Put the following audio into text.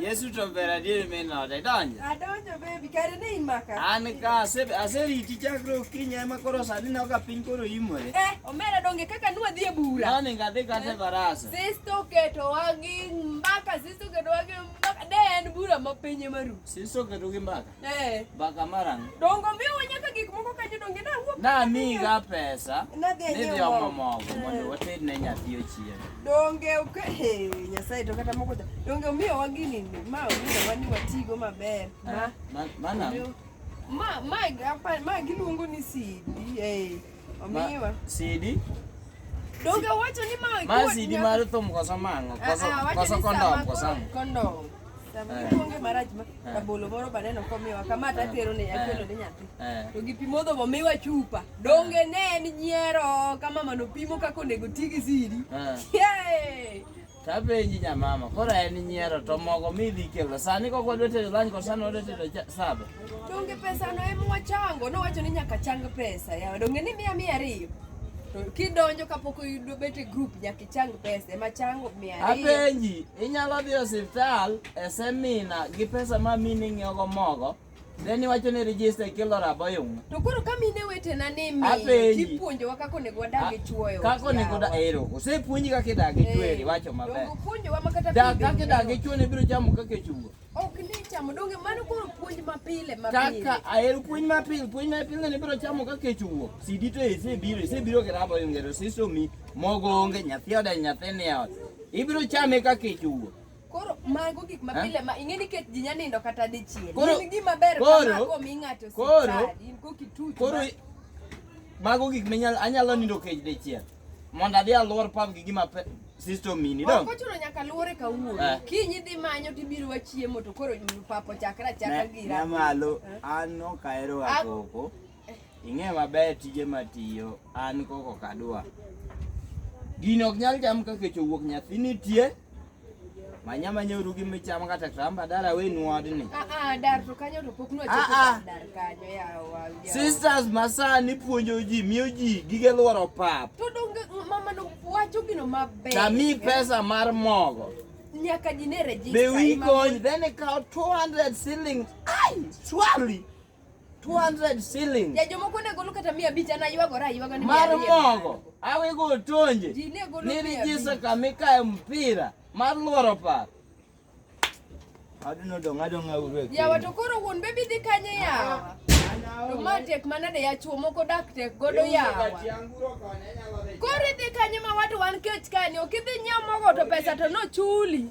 Yesu tobera diri mena de donja. Adonjo baby kare ne imaka. An ka ase ase riti chakro kinya ema koro sani na ka piny koro imore. Eh, omera donge kaka nwa dhi e bura. Nani nga dhi kate barasa. Sisto keto wagi mbaka, sisto keto wagi mbaka. De en bura ma piny ema ru. Sisto keto gi mbaka. Eh. Baka marang. Dongo mi wanya ka gik moko kanyo donge na wuok. Na mi ga pesa. Na dhi nyewo. Nidhi omo mogo mondo eh. wated ne nyathi ochien. Donge ok eh Nyasaye to kata moko da. Donge mi wa gini ni ma mi wa ni watigo maber. Eh, ma mana. Ma ma ga pa ma giluongo ni CD. Eh. Omiwa. Sidi. Doga wacho ni ma ma sidi mar thum koso mango ah, koso ah, koso kondom koso kondom. Sama eh. ikuonge marach ma eh. rabolo moro baneno komiwa kama ta eh. tero ne akelo ne nyathi. To gi pimo dho miwa chupa. Donge ne en nyiero kama mano pimo kako nego tigi sidi. Yay! Tapenji nyamama, koro en nyiero to mogo mi dhi kelo. Sani kok wadwa tedo lunch kod sani wadwa tedo cha- saba. Donge pesa no ema wachango, nowacho ni nyaka chang pesa. Yawa donge ni mia mia ariyo. To kidonjo kapok oyudo bet e group nyaka ichang pesa, ema chango mia ariyo. Apenji, inyalo dhi e osiptal e semina gi pesa ma mini ng'iewogo mogo Ne ni wacho ni register kilo rabo yung. To koro ka mine wetena ni mi Apenji. kipuonjowa kaka onego wadag gi chuoyo. Kako ni kuda ero. Ose puonji kaka idag gi chweri Eh, wacho maber. Donge puonjowa ma kata Da pidho kaka idag gi nyuol. chwo ne biro chamo kaka chungo. Ok ni chamo donge mano koro puonj mapile mapile. Kaka ahero puonj mapil, puonj mapil ne biro chamo kaka chungo. Sidi to ese biro, ese biro gi rabo yung ero sisomi mogo onge nyathi oda nyathi ni ot. Ibiro chame kaka chungo. Koro mago gik ma pile ma ing'e ni ket ji nya nindo kata dichiel. Koro gima ber kama ko mi ng'ato sipadi, in ko kituch. Koro mago gik minyal anyalo nindo kech dichiel. Mondo adhi alwor pam gi gima sister mini dong. Ko chuno nyaka luore ka wuo. Eh. Kinyi dhi manyo ti biro wachiemo to koro papo chakra chakra gira. Na malo eh. an no kaero agoko. Ing'e maber tije matiyo an koko kadwa. Gino ok nyal cham ka kech owuok nyathi nitie. Manya manya uru gi micham kata tramba dala we nwadni. Ah ah dar to kanyo to pok nwacho Ah, ah. dar kanyo yawa. yawa. Sisters masani puonjo ji miyo ji gige lworo pap. To donge mama no wacho gino maber. Tami pesa mar mogo. Nyaka ji ne register. Be we ima- going then they count 200 shillings. Ay, surely. 200 shillings. Ya jomoko ne golo kata 500 ana ywagora aywaga ni mar mogo awego otonje nirijisa kama ikaye mpira mar lworo paro aduno dong' adong' auru e yawa to koro wuon bebi dhi kanye yawa to ma tek manade yachuo moko dak tek godo yawa koro idhi kanye ma watu wan kech kani ok idhi nyiewo mogo to pesa to nochuli